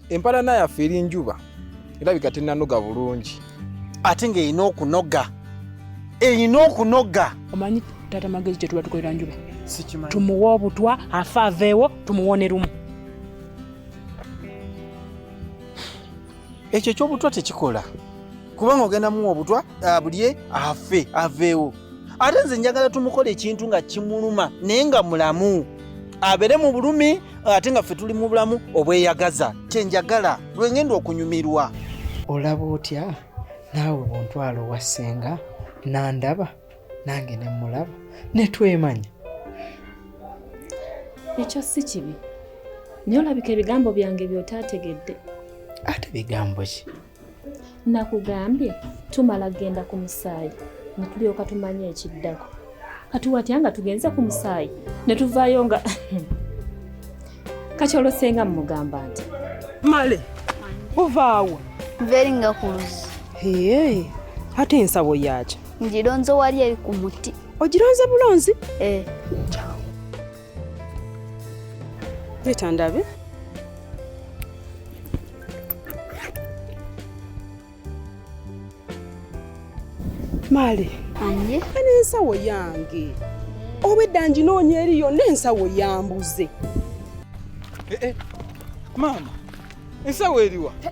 empalana yaffe eri njuba erabika tenanoga bulungi ate ng'erina okunoga erina okunoga omanyi taata magezi kyetuba tukolera njuba tumuwa obutwa afe aveewo tumuwone lumu ekyo ekyobutwa tekikola kubanga ogenda muwa obutwa abulye afe aveewo ate nze njagala tumukola ekintu nga kimuluma naye nga mulamu abere mu bulumi ate nga ffe tuli mu bulamu obweyagaza kyenjagala lwengenda okunyumirwa olaba otya naawe buntwala owa ssenga nandaba nange nemulaba netwemanya ekyo si kibi naye olabika ebigambo byange byotaategedde ate bigambo ki nakugambye tumala genda ku musaayi ne tulyoka tumanya ekiddako kati watya nga tugenze ku musaayi ne tuvaayo nga kati olosenga mumugamba nti male ovaawa nveringa ku luzzi ee ate ensabo yaki ngironze wali eri ku muti ogironze bulonzi ee eh. Leta ndabe. Mali. Anye. Ani ensawo yange. Obwedda nginoonya eri yonna ensawo yambuze. Eh, eh. Maama, ensawo eriwa? Eh,